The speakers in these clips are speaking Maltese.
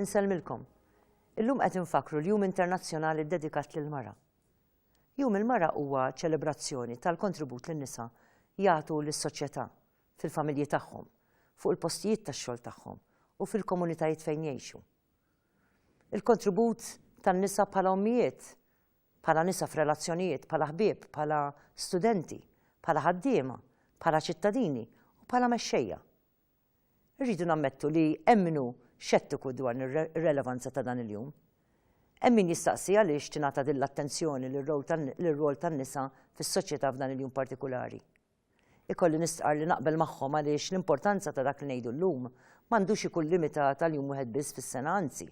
Insellmilkom. Illum qed infakkru l-Jum Internazzjonali ddedikat lill-mara. Jum il-mara huwa ċelebrazzjoni tal-kontribut lin nisa jagħtu lis-soċjetà, fil-familji tagħhom, fuq il-postijiet tax-xogħol tagħhom u fil-komunitajiet fejn jgħixu. Il-kontribut tan-nisa bħala ommijiet bħala nisa f'relazzjonijiet, bħala ħbieb, bħala studenti, bħala ħaddiema, bħala ċittadini u bħala mexxejja. Irridu nammettu li hemm min hu xettiku dwar ir-relevanza ta' dan il-jum. Hemm min jistaqsi għaliex tingħata din l-attenzjoni lir-rwol tan-nisa fis-soċjetà f'dan il-jum partikulari. Ikolli nistqarr li naqbel magħhom għaliex l-importanza ta' dak li ngħidu llum m'għandux ikun limitat għal jum wieħed biss fis-sena anzi,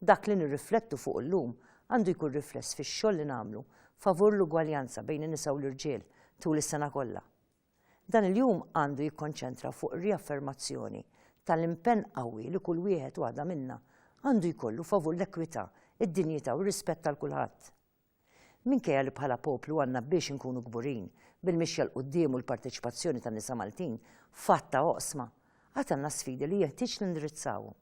dak li nirriflettu fuqu llum għandu jkun rifless fix-xogħol li nagħmlu favur l-ugwaljanza bejn in-nisa u l-irġiel tul is-sena kollha. Dan il-jum għandu jikkonċentra fuq ir-riaffermazzjoni tal-impenn qawwi li kull wieħed u waħda minna għandu jkollu favur l-ekwità, id-dinjità u r-rispett għal kulħadd. Minkejja li bħala poplu għandna biex inkunu kburin bil-mixja 'l quddiem u l-parteċipazzjoni tan-nisa Maltin f'għadd ta' oqsma, għad għandna sfidi li jeħtieġ nindirizzawhom.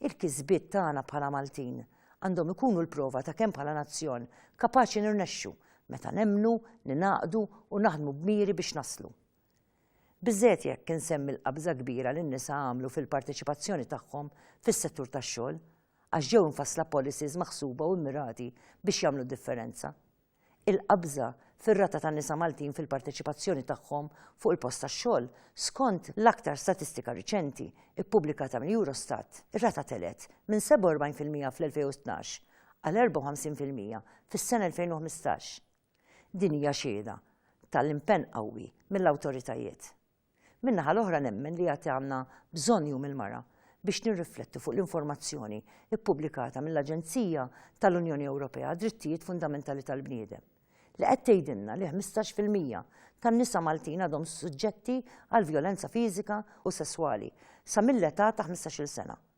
Il-kisbiet tagħna bħala Maltin għandhom ikunu l-prova ta' kemm bħala nazzjon kapaċi nirnexxu meta nemmnu, ningħaqdu u naħdmu b'miri biex naslu. Biżżejjed jekk insemmi l-qabża kbira li n-nisa għamlu fil-parteċipazzjoni tagħhom fis-settur tax-xogħol, għax ġew imfassla policies maħsuba u mmirati biex jagħmlu d-differenza. Il-qabża fir-rata tan-nisa Maltin fil-parteċipazzjoni tagħhom fuq il-post tax-xogħol, skont l-aktar statistika riċenti ppubblikata mill-Eurostat, ir-rata telgħet minn 47 fil-mija fl-2012 għal 54 fil-mija fis-sena 2015. Din hija xhieda tal-impenn qawwi mill-awtoritajiet. Min-naħa l-oħra nemmen li għad għandna bżonn Jum il-Mara biex nirriflettu fuq l-informazzjoni ppubblikata mill-Aġenzija tal-Unjoni Ewropea għad-Drittijiet Fundamentali tal-Bniedem li qed tgħidilna li ħmistax fil-mija tan-nisa Maltin għadhom suġġetti għal vjolenza fiżika u sesswali sa mill-età ta' ħmistax-il sena.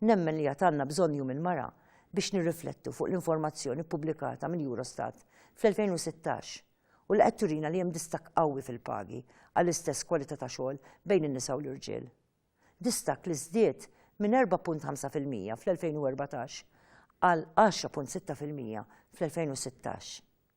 Nemmen li għad għandna bżonn Jum il-Mara biex nirriflettu fuq l-informazzjoni ppubblikata mill-Eurostat fl-2016 u li qed turina li hemm distakk qawwi fil-pagi għall-istess kwalità ta' xogħol bejn in-nisa u l-irġiel. Distakk li żdied minn 4.5 fil-mija fl-2014 għal 10.6 fil-mija fl-2016.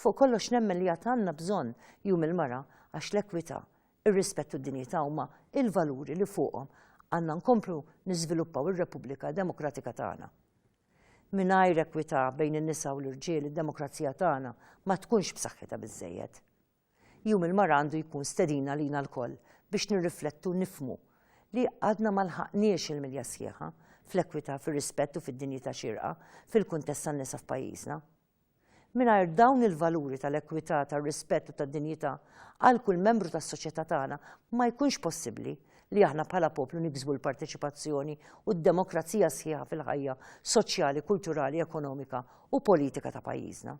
Fuq kollox nemmen li għad għandna bżonn Jum il-Mara għax l-ekwità, ir-rispett u d-dinjità huma l-valuri li fuqhom għandna nkomplu niżviluppaw ir-Repubblika Demokratika tagħna. Mingħajr ekwità bejn in-nisa u l-irġiel id-demokrazija tagħna ma tkunx b'saħħitha biżżejjed. Jum il-Mara għandu jkun stedina għalina lkoll biex nirriflettu u nifhmu li għadna ma lħaqniex il-milja sħiħa fl-ekwità, fir-rispett u fid-dinjità xierqa fil-kuntest tan-nisa f'pajjiżna. Mingħajr dawn il-valuri tal-ekwità, tar-rispett u tad-dinjità għal kull membru tas-soċjetà tagħna ma jkunx possibbli li aħna bħala poplu niksbu l-parteċipazzjoni u d-demokrazija sħiħa fil-ħajja soċjali, kulturali, ekonomika u politika ta' pajjiżna.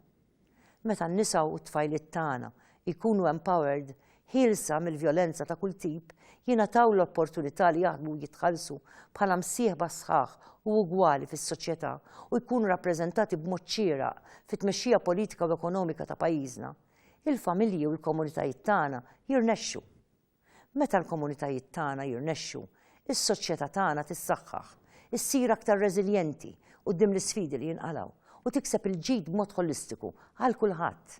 Meta n-nisa u t-tfajliet tagħna jkunu empowered, ħielsa mill-vjolenza ta' kull tip, jingħataw l-opportunità li jaħdmu u jitħallsu bħala msieħba sħaħ u ugwali fis-soċjetà u jkunu rappreżentati b'mod xieraq fit-tmexxija politika u ekonomika ta' pajjiżna, il-familji u l-komunitajiet tagħna jirnexxu. Meta l-komunitajiet tagħna jirnexxu, is-soċjetà tagħna tissaħħaħ, issir aktar reżiljenti quddiem l-isfidi li jinqalgħu, u tikseb il-ġid b'mod ħolistiku għal kulħadd.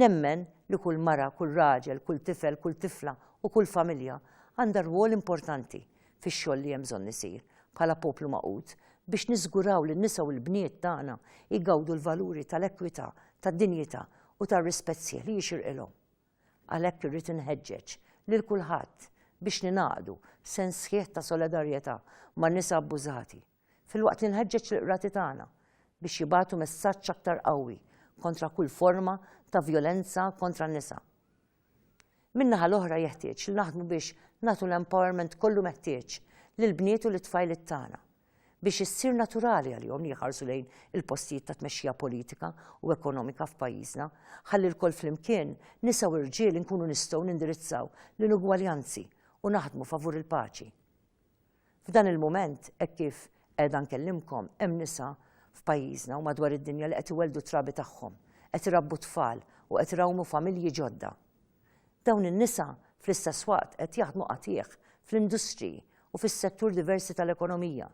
Nemmen li kull mara, kull raġel, kull tifel, kull tifla u kull familja għandha rwol importanti fix-xogħol li hemm bżonn isir bħala poplu magħqud biex niżguraw li n-nisa u l-bniet tagħna jgawdu l-valuri tal-ekwità, tad-dinjità u tar-rispett sħiħ li jixirqilhom. Għalhekk irrid inħeġġeġ lil kulħadd biex ningħaqdu b'sens sħiħ ta' solidarjetà man-nisa abbużati, filwaqt li nħeġġeġ lill-qrati tagħna biex jibagħtu messaġġ aktar qawwi kontra kull forma ta' vjolenza kontra n-nisa. Min-naħa l-oħra jeħtieġ li naħdmu biex nagħtu l-empowerment kollu meħtieġ lill-bniet u lit-tfajliet tagħna. biex issir naturali għalihom li jħarsu lejn il-postijiet ta' tmexxija politika u ekonomika f'pajjiżna, ħalli lkoll flimkien, nisa u rġiel inkunu nistgħu nindirizzaw l-inugwaljanzi u naħdmu favur il-paċi. F'dan il-mument, hekk kif qiegħda nkellimkom, hemm nisa f'pajjiżna u madwar id-dinja li qed iwelldu trabi tagħhom, qed irabbu tfal u qed irawmu familji ġodda. Dawn in-nisa, fl-istess waqt, qed jaħdmu qatigħ fl-industriji u fis-settur diversi tal-ekonomija.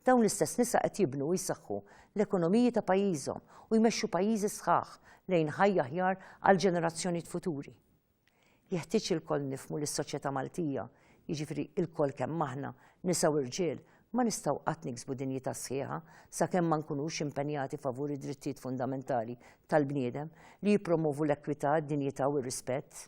Dawn l-istess nisa qed jibnu u jsaħħu l-ekonomiji ta' pajjiżhom u jmexxu pajjiżi sħaħ lejn ħajja aħjar għall-ġenerazzjonijiet futuri. Jeħtieġ li lkoll nifhmu li s-soċjetà Maltija jiġifieri ilkoll kemm aħna, nisa u rġiel, ma nistgħu qatt niksbu dinjità sħiħa sakemm ma nkunux impenjati favur id-drittijiet fundamentali tal-bniedem li jippromovu l-ekwità, d-dinjità u r-rispett.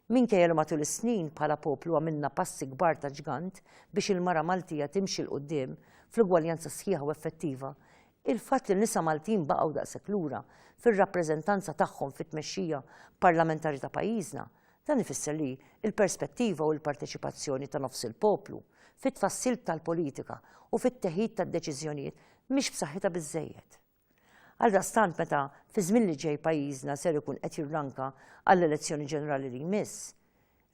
Minkejja li matul is-snin bħala poplu għamilna passi kbar ta' ġgant biex il-mara Maltija timxi 'l quddiem fl-ugwaljanza sħiħa u effettiva, il-fatt li n-nisa Maltin baqgħu daqshekk lura fir-rappreżentanza tagħhom fit-tmexxija parlamentari ta' pajjiżna Dan ifisser li l-perspettiva u l-parteċipazzjoni ta' nofs il-poplu fit-tfassil tal-politika u fit-teħid tad-deċiżjonijiet mhix b'saħħitha biżżejjed. Għaldaqstant meta fiż-żmien li ġej pajjiżna ser ikun qed jirranka għall-elezzjoni ġenerali li jmiss,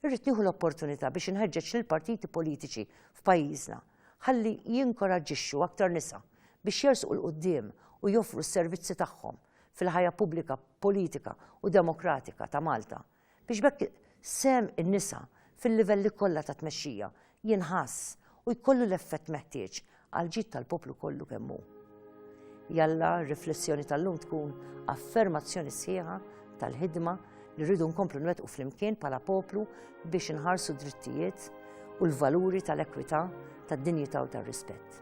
irrid nieħu l-opportunità biex inħeġġeġ lill-partiti politiċi f'pajjiżna ħalli jinkoraġġixxu aktar nisa biex jersqu 'l quddiem u joffru s-servizzi tagħhom fil-ħajja pubblika, politika u demokratika ta' Malta biex b'hekk sehem in-nisa fil-livelli kollha ta' tmexxija jinħass u jkollu l-effett meħtieġ għall-ġid tal-poplu kollu kemm hu. Jalla r-riflessjoni tal-lum tkun affermazzjoni sħiħa tal-ħidma li rridu nkomplu nwettqu flimkien bħala poplu biex inħarsu drittijiet u l-valuri tal-ekwità, tad-dinjità u tar-rispett.